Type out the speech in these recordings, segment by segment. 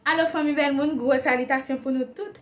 Alo fanmi bèl moun, gwo salitasyon pou nou tout.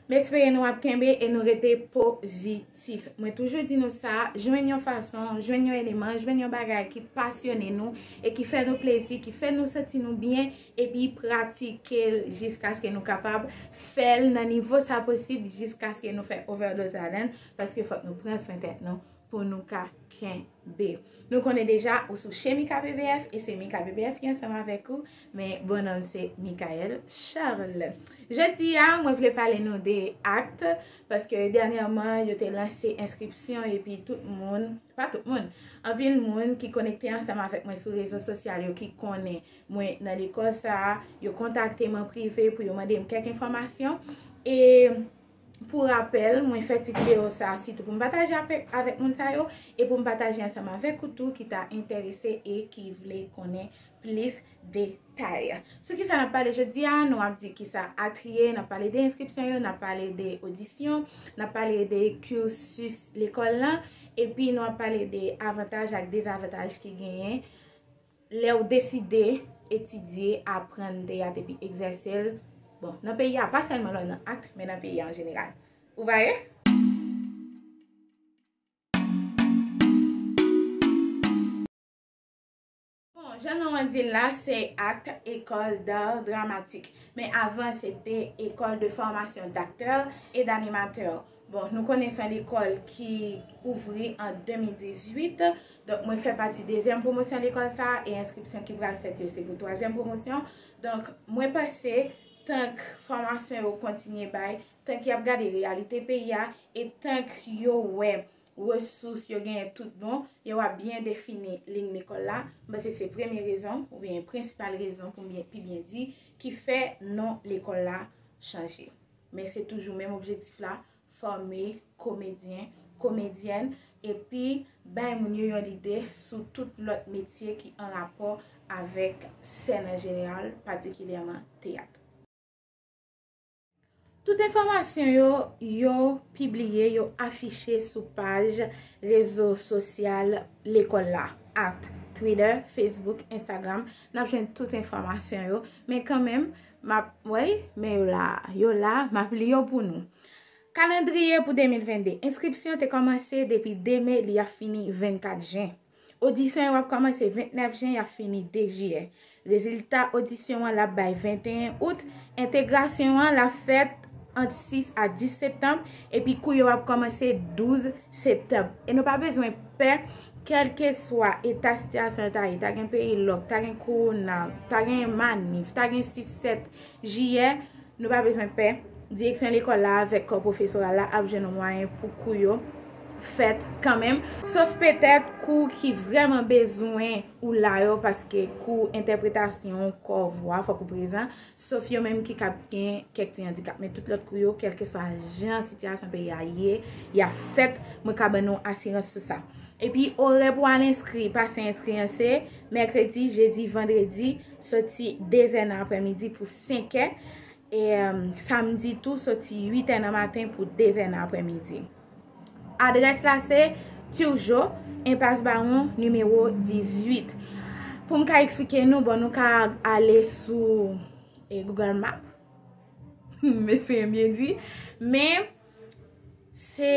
M espere nou ap kenbe e nou rete pozitif. Mwen toujou di nou sa, jwenn yon fason, jwenn yon eleman, jwenn yon bagay ki pasyone nou e ki fè nou plezi, ki fè nou santi nou byen epi pratike l jiskaske nou kapab fè l nan nivo sa posib jiskaske nou fè ovèdoz ladan l paske fòk nou pran swen tèt nou pou nou ka kenbe. B. Nou konnen deja ou sou Chemi KPBF e se mi KPBF ki ansanm avèk ou, men bon nonm se Mickaël Charles. Jodi a, mwen vle pale nou de akt, paske dènyèman yo te lanse enskripsyon epi tout moun, pa tout moun, anpil moun ki konekte ansanm avèk mwen sou rezo sosyal yo ki konnen mwen nan lekòl sa a, yo kontakte m an prive pou yo mande m kèk enfòmasyon e. Pou rapèl, mwen fè ti videyo sa a sitou pou m pataje avèk moun sa yo e pou m pataje ansanm avèk ou tou ki ta enterese e ki vle konnen plis detay. Sou kisa n ap pale jodi a, nou ap di kisa Atri ye, n ap pale de enskripsyon yo, n ap pale de odisyon, n ap pale de cursus lekòl lan, epi nou ap pale de avantaj ak dezavantaj ki genyen. Lè ou deside etidye, aprann teyat epi egzèse l, bon, nan peyi a, pa sèlman lò nan act, men nan peyi a an jeneral. Ou veye? Bon, jan non an di l la, se act, École d'Art Dramatique. Men avan se te École de Formation d'Acteurs et d'Animateurs. Bon, nou konnen se lekòl ki ouvri an 2018, donk mwen fè pati dezyèm pwomosyon lekòl sa a, e enskripsyon ki pral fèt yo se pou twazyèm pwomosyon. Donk, mwen panse, tank fòmasyon yo kontinye bay, tank y ap gade reyalite peyi a, e tank yo wè resous yo genyen tout bon, yo ap byen defini liy lekòl la. Mwen panse se premye rezon, oubyen prensipal rezon pou m pi byen di, ki fè non lekòl la chanje. Men se toujou menm objektif la, fòme komedyen, komedyèn epi bay moun yo yon lide sou tout lòt metye ki an rapò avèk sèn an jeneral, patikilyèman teyat. Tout enfòmasyon yo, yo pibliye, yo afiche sou paj rezo sosyal lekòl la, akt, Twitter, Facebook, Instagram, n ap jwenn tout enfòmasyon yo, men kanmenm, Map wey men yo la. Yo la map li yo pou nou. Kalandriye pou 2022. Enskripsyon te komanse depi 2 me li ap fini 24 jen. Odisyon yo ap komanse 29 jen yap fini 2 jiyè. Rezilta odisyon an lap bay 21 out. Entegrasyon an lap fèt ant 6 a 10 septanm epi kou yo ap komanse 12 septanm. E nou pa bezwen pè Kèlkeswa eta sitiyasyon an ta ye, ta gen peyi lòk, ta gen kowona, ta gen manif, ta gen 6, 7 jiyè, nou pa bezwen pè, direksyon lekòl la avèk kò pwofesoral la ap jwenn mwayen pou kou yo fèt kanmenm. Sof petèt kou ki vrèman bezwen ou la yo paske kou entèpretasyon, kò, vwa fòk ou prezan. Sof yo menm ki ka gen kèk ti andikap. Men tout lòt kou yo, kèlkeswa jan sitiyasyon peyi a ye, y ap fèt, mwen ka ban nou asirans sou sa. Epi, orè pou al enskri, pase enskri an se, mèkredi, jedi, vandredi, soti dezè nan aprèmidi pou senkè, e samdi tou soti uitè nan maten pou dezè nan aprèmidi. Adrès la se Turgeau, Enpas Bawon, nimewo 18. Pou m ka eksplike nou, bon nou ka ale sou Google Map. Mesi m byen di. Men, se,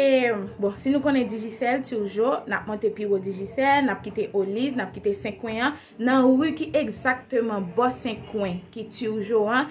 bon, si nou konnen Digicel, Turgeau, n ap monte pi wo Digicel, n ap kite Oliz, n ap kite Senkwen an. Nan ri ki egzakteman bò Senkwen, ki Turgeau an,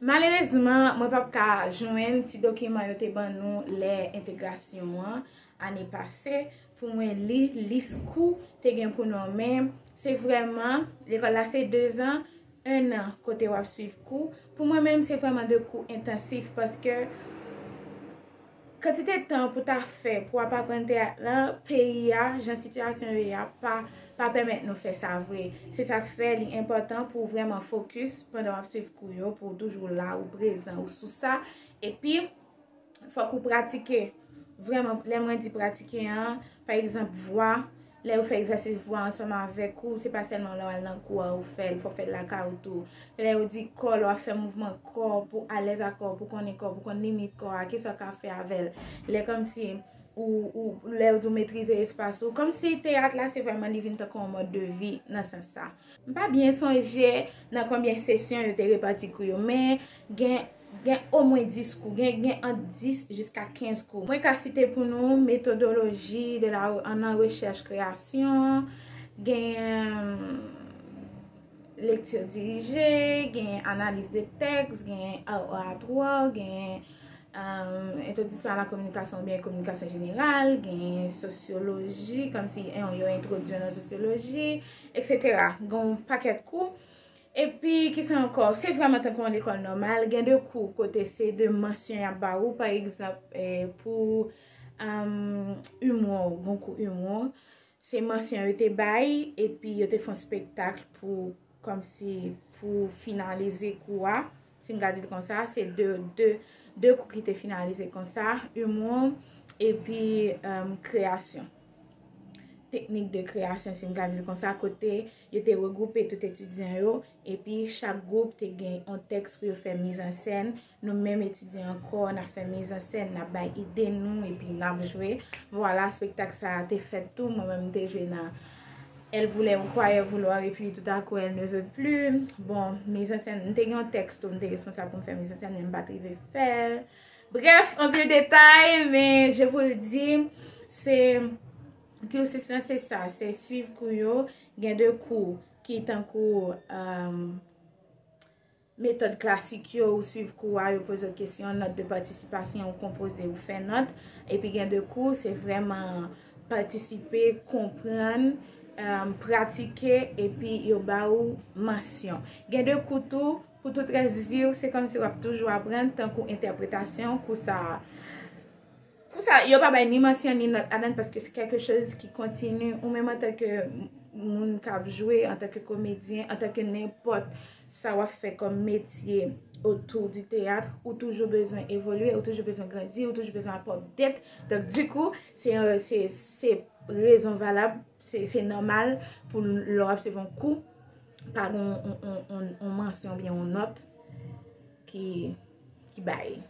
Malerezman, mwen pap ka jwenn ti dokiman yo te ban nou lè entegrasyon an, ane pase, pou mwen li lis kou te gen pou nòmen. Se vrèman, lekòl la se 2 zan, 1 an kote w ap swiv kou. Pou mwen menm, se vrèman 2 kou entansif paske. Kantite tan pou ta fè pou ap aprann teyat lan peyi a, jan sitiyasyon yo ye a, pa pèmèt nou fè sa vre. Se sa k fè li enpòtan pou w vrèman fokis pandan w ap suiv kou yo, pou w toujou la, ou prezan, ou sou sa. Epi, fòk ou pratike. Vrèman, lè mwen di pratike an, pa egzanp vwa. Lè ou fè egzèsis vwa ansanm avèk ou, se pa sèlman lè w al nan kou a ou fè l, fò w fè l lakay ou tou. Lè yo di kò, lè w ap fè mouvman kò pou w alèz ak kò w, pou w konnen kò w, pou w konn limit kò a, ki sa w ka fè avè l. Lè kòmsi ou, lè yo di w metrize espas ou. Kòmsi teyat la se vrèman li vin tankou yon mòd de vi nan sans sa. M pa byen sonje nan konbyen sesyon yo te repati kou yo, men gen omwen 10 kou, gen ant 10 jiska 15 kou. Mwen ka site pou nou metodoloji nan rechèch kreyasyon, gen lekti dirije, gen analiz de tèks, gen art oratoire, gen. Entwodiksyon a la kominikasyon oubyen kominikasyon jeneral, gen sosyoloji, kòm si yo entwodwi nan sosyoloji, eksetera. Gen yon pakèt kou. E pi, ki sa ankò? Se vrèman tankou yon lekòl nòmal. Gen de kou kote se de mansyon y ap ba ou. Pa egzanp, pou imou, gen yon kou imou. Se mansyon yo te bay, epi yo te fon spektakl pou, kòm si, pou finalize kou a, si m ka di l kon sa, se de, de, de kou ki te finalize kon sa, Imou, epi kreyasyon. Teknik de kreyasyon, si m ka di l kon sa, kote yo te regwoupe tout etidyan yo, epi chak gwoup te gen yon tèks pou yo fè mizansen, Nou menm etidyan an kò, n ap fè mizansèn, n ap bay ide nou epi n ap jwe. Vwala, spektak sa a te fèt tou. Mwen menm m te jwe nan Elle voulait ou croyait vouloir et puis tout à coup elle ne veut plus. Bon, mizansèn, m te gen yon tèks tou m te responsab pou m fè mizansèn men m pa t rive fè l. Brèf, anpil detay men je vous le dis, se cursus lan se sa, se suiv kou yo. Gen de kou ki tankou. Metòd klasik yo, ou suiv kou a, yo poze w kesyon, nòt de patisipasyon, ou konpoze, ou fè nòt. Epi gen de kou, se vrèman patisipe, konprann, pratike, epi yo ba ou mansyon. Gen de kou tou, pou tout rès vi w, se kòmsi w ap toujou aprann, tankou entèpretasyon, kou sa a. Kou sa a, yo pa bay ni mansyon ni nòt ladan l, paske se kèlke chòz ki kontini. Ou menm antanke moun k ap jwe, antanke komedyen, antanke nenpòt sa wap fè kòm metye otou di teyat ou toujou bezwen evolye ou toujou bezwen grandi ou toujou bezwen apò dèt donk di kou se se rezon valab se nòmal pou lò ap se von kou pa gon on mansyon on nòt ki ki bay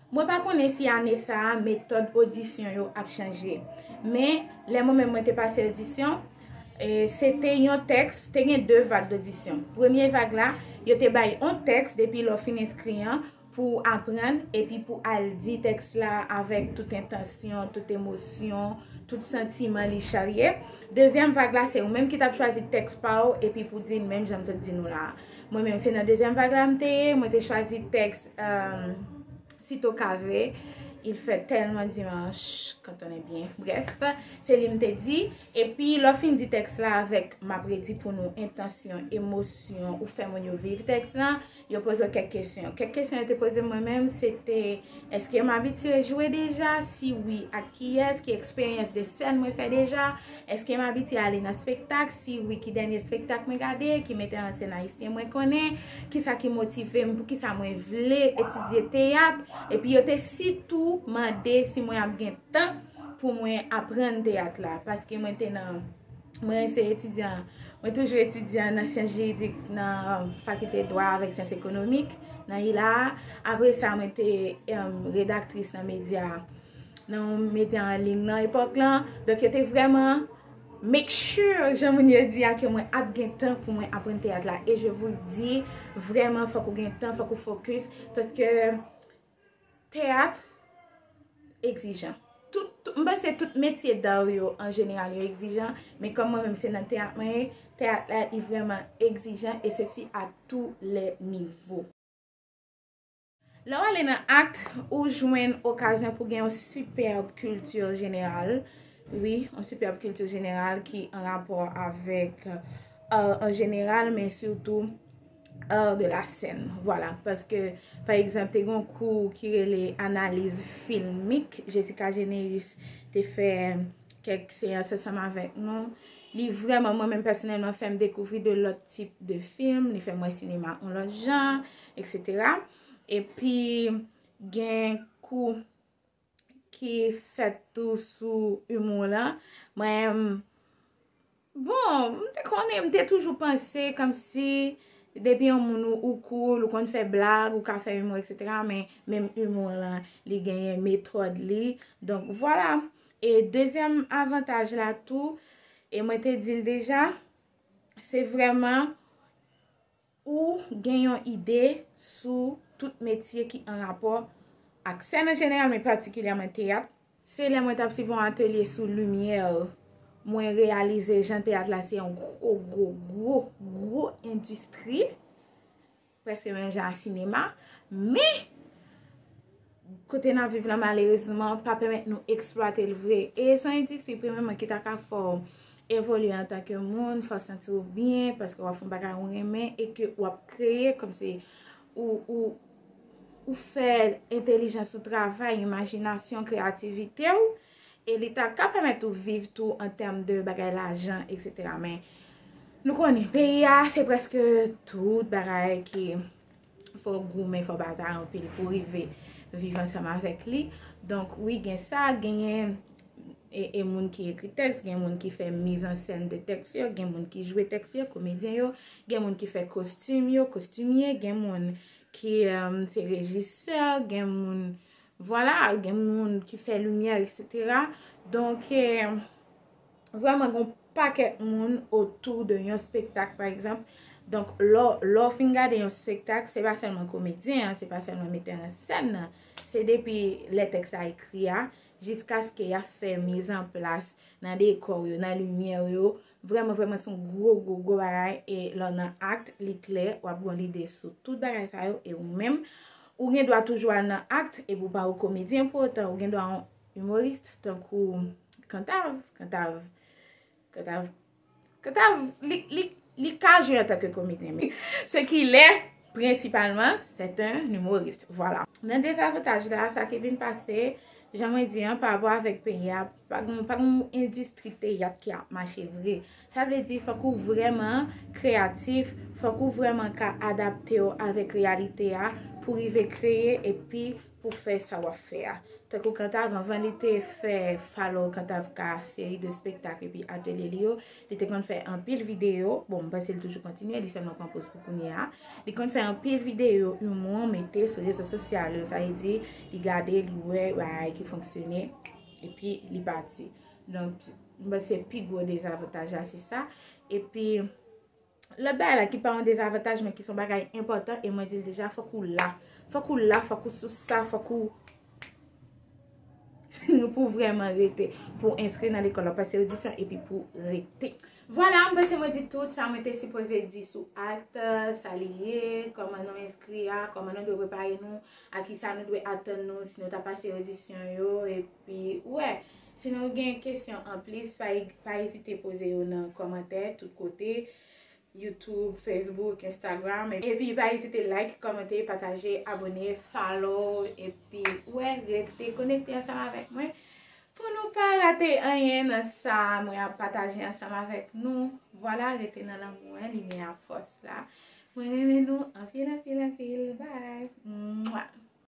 Mwen pa konnen si ane sa a metòd odisyon yo ap chanje. Men, lè mwen menm mwen te pase odisyon, se te yon tèks, te gen 2 vag d'odisyon. Premye vag la, yo te bay yon tèks depi lè w fin enskri an pou w aprann epi pou w al di tèks la avèk tout entansyon, tout emosyon, tout santiman li charye. Dezyèm vag la, se ou menm ki t ap chwazi tèks pa w epi pou w di l menm jan m sot di nou la a. Mwen menm, se nan dezyèm vag la m te ye, mwen te chwazi tèks Si to ka vre, il fè tèlman dimanche quand on est bien. Bref, se li m te di. E pi, lè w fin di tèks la avèk m ap redi pou nou entansyon, emosyon ou fè moun yo viv tèks la, yo poze w kèk kesyon. Kèk kesyon yo te poze m mwen menm, se te, èske m abitye jwe deja? Si wi, ak kiyès? Ki eksperyans de sèn mwen fè deja? Eske m abitye ale nan spektak? Si wi, ki dènye spektak mwen gade? Ki metè an sèn ayisyen mwen konnen? Ki sa ki motive m? Pou ki sa mwen vle etidye teyat? Epi yo te sitou mande si mwen ap gen tan pou mwen aprann teyat la. Paske mwen te nan, mwen se etidyan, mwen toujou etidyan nan syans jiridik nan fakilte dwa avèk syans ekonomik nan ILA a. Apre sa mwen te redaktris nan medya. nan yon mete an ling nan epòk lan, donk yo te vrèman make sure jan moun yo di a ke mwen ap gen tan pou mwen aprann teyat la e je vous le dis vrèman fòk ou gen tan, fòk ou focus paske teyat egzijan m panse tout metye d'art yo an jeneral yo egzijan men kòm mwen menm se nan teyat mwen ye teyat la li vrèman egzijan e se si a tou lè nivou. Lè w ale nan act, ou jwenn okazyon pou gen yon sipèb kilti jeneral, wi, yon sipèb kilti jeneral ki an rapò avèk art an jeneral, men sitou art de la sèn. Vwala, paske, pa egzanp, te gen yon kou ki rele analiz filmik, Jessica Généus te fè kèk seyans ansanm avèk nou. Li vrèman, mwen menm pèsonèlman, fè m dekouvri de lòt tip de film, li fè m wè sinema yon lòt jan. Etc. Epi gen kou ki fèt tou sou humour lan. Mwen, bon, m te konnen, m te toujou panse kom si depi yon moun ou cool, ou konn fè blag, ou ka fè humour, etc. Men, menm humour lan, li genyen metòd li. Donk, vwala. E dezyèm avantaj la tou, e mwen te di l deja, se vreman. Ou gen yon ide sou tout metye ki an rapò ak sèn an jeneral men patikilyèman teyat? Se lè mwen t ap swiv yon atelye sou limyè mwen reyalize jan teyat la se yon gwo gwo gwo gwo endistri, prèske menm jan ak sinema. Men! Kote n ap viv la malerezman pa pèmèt nou eksplwate l vre. E se yon endistri premyèman ki ta ka fè w evolye antanke moun, fè w santi w byen paske w ap fè yon bagay ou renmen e ke w ap kreye kòmsi ou fè entelijans ou travay, imajinasyon, kreyativite w e li ta ka pèmèt ou viv tou an tèm de bagay lajan, eksetera. Men, nou konnen, peyi a se prèske tout bagay ki fò goumen, fò batay anpil pou rive viv ansanm avèk li. Donk, wi gen sa, genyen e moun ki ekri tèks, gen moun ki fè mizansèn de tèks yo, gen moun ki jwe tèks yo, komedyen yo, gen moun ki fè kostim yo, kostimye, gen moun ki se rejisè, gen moun, vwala, gen moun ki fè limyè, etc. Donk, e... Vrèman gen yon pakèt moun otou de yon spektak pa egzanp. Donk lò w fin gade yon spektak, se pa sèlman komedyen an, se pa sèlman metè an sèn nan. Se depi lè tèks la ekri a, jiskaske y ap fè mizanplas nan dekò yo, nan limyè yo. Vrèman vrèman se yon gwo gwo gwo bagay. E lò w nan akt, li klè, w ap gen yon lide sou tout bagay sa yo. E ou menm, ou gen dwa toujou al nan akt, epi w pa yon komedyen pou otan. Ou gen dwa yon Humorist tankou Kantav, Kantav, Kantav, Kantav, li, li, li ka jwe an tanke komedyen men. Se ki lè, prensipalman, se te humorist. Vwala. Nan dezavantaj la, sa ki vin pase, jan mwen di an, pa avwa avèk peyi a, pa gen, pa gen yon endistri teyat ki ap mache vre. Sa vle di, fòk ou vrèman kreyatif, fòk ou vrèman ka adapte ou avèk reyalite a, pou rive kreye epi pou fè sa w ap fè a. Tankou Kantav, anvan li te fè Follow Kantav K, seri de spektak epi atelye li yo, li te konn fè anpil videyo, bon m panse li toujou kontinye, li sèlman pran poz pou kounye a, li konn fè anpil videyo imou mete sou rezo sosyal yo, sa vle di li gade, li wè bagay ki fonksyone, epi li pati. Donk, m panse pi gwo dezavantaj la se sa, epi. Lòt bagay la ki pa yon dezavantaj men ki son bagay enpòtan e mwen di l deja fòk ou la. Fòk ou la, fòk ou sou sa, fòk ou pou vreman rete pou enskri nan lekòl la. Pase odisyon epi pou rete. Vwala, mwen se mwen di tout sa mwen te sipoze di sou akt, sa li ye, kòman nou enskri a, kòman nou dwe prepare nou, a ki sa nou dwe atann nou si nou ta pase odisyon yo epi wè. Si nou gen kesyon anplis, pa ezite poze yo nan kòmantè tout kote, YouTube, Facebook, Instagram. Epi pa ezite like, kòmante, pataje, abone, follow, epi wè rete konekte ansanm avèk mwen pou nou pa rate anyen nan sa mwen ap pataje ansanm avèk nou. Vwala, rete nan lanmou an, limyè a, fòs la. Mwen renmen nou anpil, anpil, anpil. Bye!